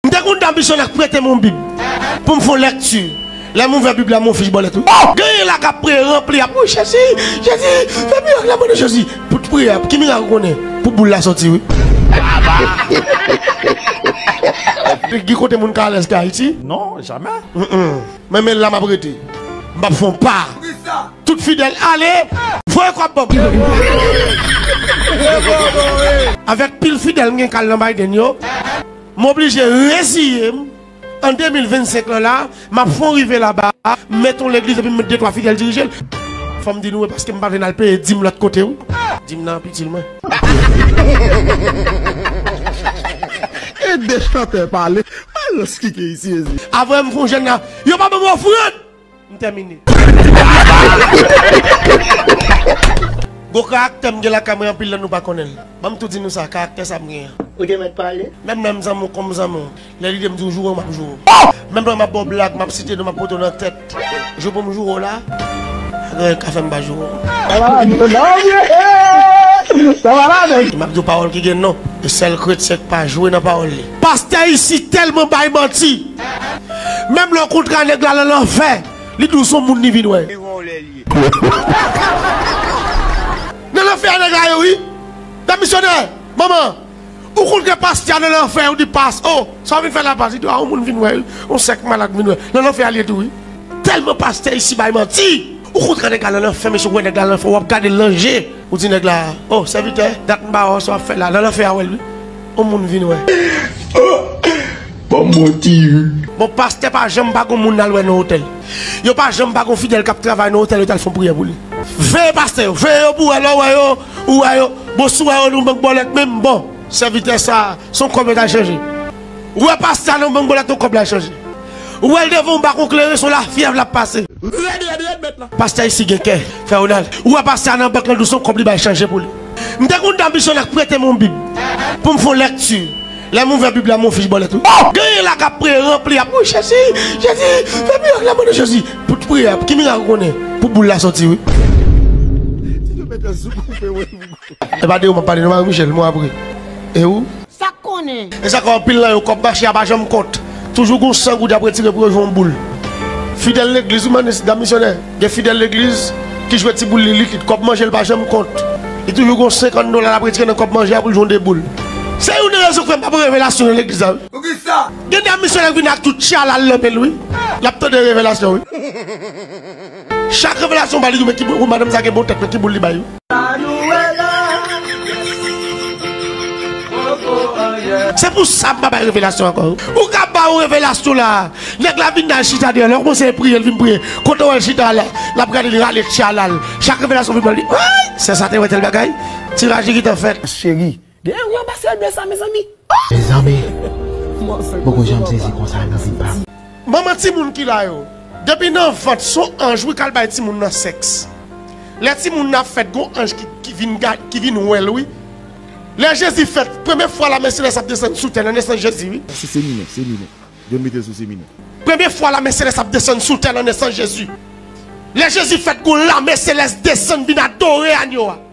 M te konn danbisyon ak prete m yon bib pou m fè yon lekti. Lè m ouvè bib la m wè yon fich bòlèt wi. Oh! Genyen la kap priye ranpli ap wi Jezi, Jezi fè mirak la mande Jezi pou t priye ap ki mirak ou konnen pou boul la sòti wi. Gen kote moun ka alèz ke Ayiti? Non, jamè. Mwen menl la map rete. M pap fè yon pa. Tout fidèl ale! Voye kòb ban m. Avèk pil fidèl m gen kal nan Biden yo. M oblije reziye m an 2025 lan la, m ap fon rive laba a, m met yon legliz epi m met de twa fidèl dirije l. Fò m di nou e paske m pa vle n al peye dim lòt kote wi. Dim nan ap itil mwen. Ede chantè pale. Mayo skikey sezi. Avwe m fon jèn la, yo pa ban m ofrand! m tèmine. Gwo karaktè m gen lakay mwen anpil lè nou pa konnen l. Ban m tou di nou sa, karaktè sa m gen an. Ou te mèt pale. Menm lè m zanmi w kòm zanmi w, lè lide m di w joure w m ap joure w. Menm lè m ap ba w blag, m ap site non m ap pote w nan tèt, jou pou m joure w la, pa gen anyen k ka fè m pa joure w. Sa va la menm nan vre ee! Sa va la menm! M ap di w pawòl ki gen non, e sèl kretyen k pa jwe nan pawòl li. Pastè isi telman bay manti. Menm lè w kontra nèg la lan lanfè li di w son moun li vin wè. Nan lanfè a nèg la ye wi. Dam misyonè, manman, ou kontre pastè a nan lanfè ou di pas oh sa w vin fè la pas li di w a on moun vin wè wi on sèk malad vin wè nan lanfè a li ye tou wi. Telman pastè isi bay manti. Ou kontra nèg la lan lanfè mesye ou wè nèg la lan lanfè wap gade l lan je ou di nèg la oh sèvitè dat m pa wè w sa w ap fè la nan lanfè a wè l wi. On moun vin wè. Banm wè ti hu. Bon pastè pa janm pa gon moun al wè nan otèl. Yo pa janm pa gon fidèl kap travay nan otèl yo tal fon priyè pou li. Veye pastè yo, veye yo pou wè lè w wè yo ou wè yo, bon si w wè yo nan bank bòlèt menm bon sèvitè sa son kòb yo tal chanje ou wè pastè a nan bank bòlèt yon kòb lal chanje ou wè l devan yon bakon kleren son lafyèv lap pase rèd rèd rèd mèt la. Pastè isi gen kè, frè Ronald. Ou wè pastè a nan bank lan dous son kòb li bay chanje pou li. M te konn dòmi sou nèg prete m yon bib pou m fè yon lèkti. Lè m ouvè bib la m wè yon fich bòlèt wi. Genyen la k ap priye ranpli ap wi Jezi, Jezi, fè mirak nan non de Jezi. Pou tout priyè ki mirak ou konnen pou boul la sòti wi. Epa de ou m ap pale non Marie Michelle m wè w ap ri. E ou? Sa k konnen? E sa ke anpil nan yo kòb mache a pa janm kont. Toujou gen yon san goud y ap retire pou yo jwenn yon boul. Fidèl legliz wi manis, dam misyonè. Gen fidèl legliz ki jwe ti boul li likid. Kòb manje l pa janm kont. Li toujou gen yon senkann dola l ap retire nan kòb manje a pou l jwenn de boul. Se youn nan rezon k fè m pa pran revelasyon nan legliz la wi. Poukisa? Gen dam misyonè k vini ak tout tchala l nan men l wi. L ap tande revelasyon wi. Chak revelasyon ba li yon men ki boul wou madanm sa gen bon tèt men ki boul li bay. Manuela poko anyen. Se pou sa m pa bay revelasyon ankò wi. Ou ka ba yon revelasyon la nèg la vin al chita dèyè l lè w kòmanse priye l vin priye kote w wè l chita a la lap gade li rale tchalal chak revelasyon vin pran li ayy sè sa te wè tèl bagay ti raji gentan fèt. Cheri Gen yon gran pastè de sa mezanmi oh. Mezanmi m poko janm sezi konsa nan vi pam. Manman timoun ki la yo. Depi nan vant son anj wi kal bay timoun nan sex lè timoun nan ap fèt gon anj ki vin gad ki vin wèl wi lè jezi fèt premye fwa lame selès ap desann sou tè nan nesans jezi wi. Sa se seminè seminè yo mete l sou seminè. Premye fwa lame selès ap desann sou tè nan nesans jezi lè jezi fèt gon lame selès desann vin adore anyo a.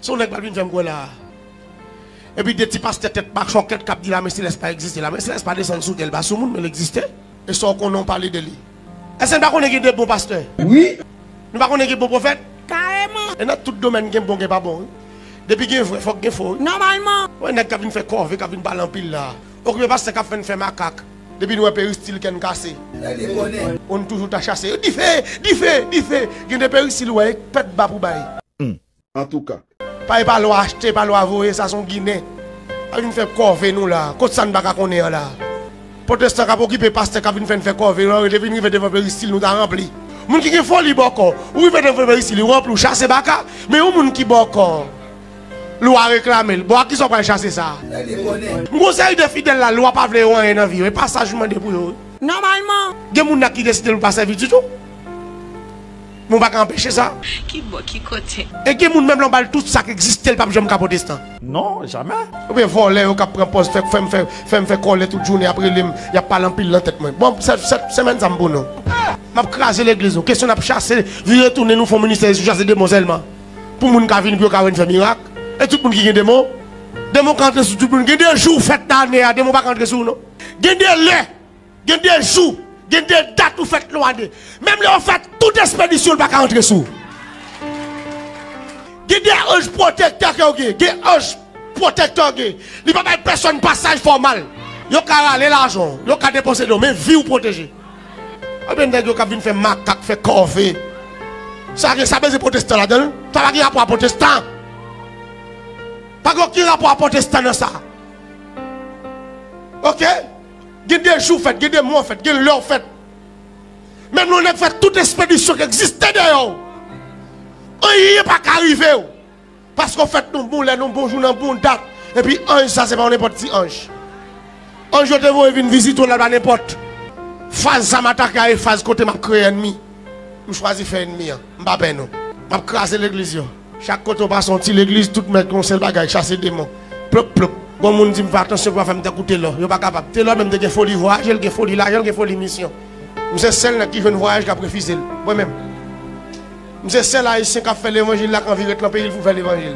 Son nèg pral vin fèm kwè la a. Epi 2 ti pastè tèt machòkèt kap di lame selès pa egziste. Lame selès pa desann sou tè, li pa sou moun men li egziste. E sa w konnen w pale de li. Èske n pa konnen gen 2 bon pastè? Wi. Nou pa konnen gen bon pwofèt? Kareman. E nan tout domèn gen bon gen pa bon wi. Depi gen vrè fòk gen fo wi. Nòmalman. Wè nèg kap vin fè kòve kap vin pale anpil la a. Okipe pastè kap fè n fè makak. Depi n wè peristil kè n kase. Lè li bonè. O n toujou ta chase. Dife! Dife! Dife! Gen de peristil wè e k pèt ba pou bay. Humm! Antouka. Pa e pa lwa achte, pa lwa voye, sa s on ginen. Pa vin fè kòve nou la a. Kot sa n pa ka konnen an la a? Potestan k ap okipe pastè k ap vin fè n fè kòve yo an rete vin rive devan peristil nou ta ranpli. Moun ki gen foli bòkò, ou rive devan peristil ou ranpli ou chase baka, men yon moun ki bòkò. Lwa reklame l. Bon ak kisa w pral chase sa a? M gen yon seri de fidèl la lwa pa vle yo anyen nan vi yo. E pa saj m mande pou yo. Nòmalman. Gen moun la ki deside l pa sèvi ditou. Men w pa ka anpeche sa. Ki bò, ki kote? E gen moun menm lè w ba l tout sa k egziste l pap janm ka pwotestan. Non, jamè. Oubyen vòlè yo k ap pran pòz fè fè m fè fè m fè kòlè tout jounen y ap rele m y ap pale anpil nan tèt mwen. Bon se se semèn sa m pou nou. M ap kraze legliz nou. Kesyon n ap chase vire tounen nou fon ministè e sou chase demon sèlman. Pou moun ka vini pou yo ka wè n fè mirak. E tout moun ki gen demon. Demon ka antre sou tout moun. Gen de jou fèt nan ane a demon pa ka antre sou ou non. Gen de lè, gen de jou, gen de dat ou fèt nan yon ane. Menm lè yo fè tout espedisyon li pa ka antre sou ou. Gen de anj pwotektè ke w gen. Gen anj pwotektè w gen. Li pa bay pèsòn pasaj fè w mal. Yo ka rale lajan w. Yo ka depanse nan w. Men vi w pwoteje. Ebyen nèg yo kap vin fè makak fè kòve sa gen sa bezwen pwotestan ladanl sa pa gen rapò a pwotestan pa gen oken rapò a pwotestan nan sa ok gen de jou fèt gen de mwa fèt gen lèw fèt menm lè yon nèg fè tout espedisyon ki egziste dèyèw anyen paka rivew. Paske w fèt yon bon lè, yon bon jou, nan yon bon dat. Epi anj sa se pa yon nenpòt ti anj. Anj yo te voye vin vizite w la pa nenpòt. Faz sa m atake a e faz kote m ap kreye ènmi. M chwazi fè ènmi an. M pa pè non. M ap kraze legliz yo. Chak kote w pase yon ti legliz, tout mèt gen yon sèl bagay, chase demon. Plop, plop. Gon moun di m fè atansyon pou yo pa fè m tankou Telò. Yo pa kapab. Telò menm te gen foli vwayaje, l gen foli lajan, l gen foli misyon. M se sèl nèg ki jwenn vwayaj k ap refize l. Mwen menm. M se sèl ayisyen kap fè levanjil la k anvi ret lan peyil pou fè levanjil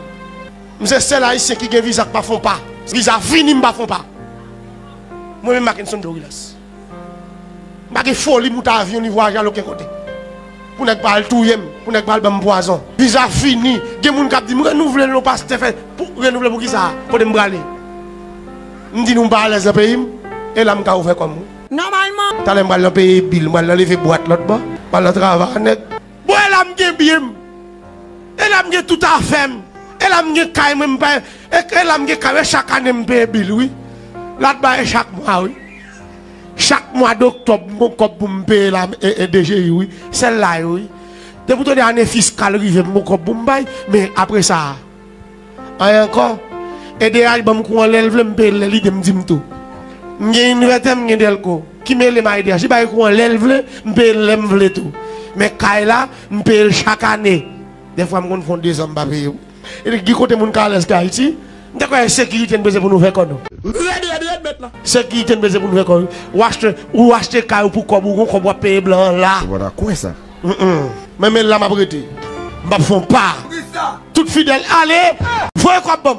m se sèl ayisyen ki gen viza k pa fon pa viza vini m pa fon pa mwen menm Mackenson Dorilas m pa gen foli moute avyon ni vwayaje al oken kote pou nèg pa al touye m pou nèg pa al banm pwazon viza vini gen moun kap di m renouvle l non pastè fè pou renouvle pou kisa kote m prale m di nou m pa alèz lan peyim e la m ka ouvè kòm. Nòmalman. Talè m pral nan peye bil, m pral nan leve bwat lòt bò, m pral nan trava a nèt. Bon e la m gen byen m, e la m gen tout afè m, e la m gen kay mwen m pa, e la m gen kay mwen chak ane m peye bil wi. La t ba e chak mwa wi. Chak mwa doktòb m gon kòb pou m peye la e DGI wi. Sèl la yo wi. Depi w tande ane fiskal rive m gon kòb pou m bay, men apresa. Anyen ankò. Edh banm kou an lèl vlem peyel lè lidem dim tou. M gen inverter m gen delco. Ki melem a edh li bay kou an lèl vle m peyel lèm vle tou. Men kay la m peyel chak ane. Dèfwa m konn fon 2 zan m pa peye wi. Gen kote moun ka alèz ke ayiti. M ta kwè e sekirite n bezwen pou nou fè kò nou. Rèd rèd rèd mèt la. Sekirite n bezwen pou nou fè kò wi. Ou achte kay ou pou kòb ou gon kòb wap peye blan an la. Ou pata kwè sa. Menm la map rete. M pap fon pa. Tout fidèl ale. Voye kob banm.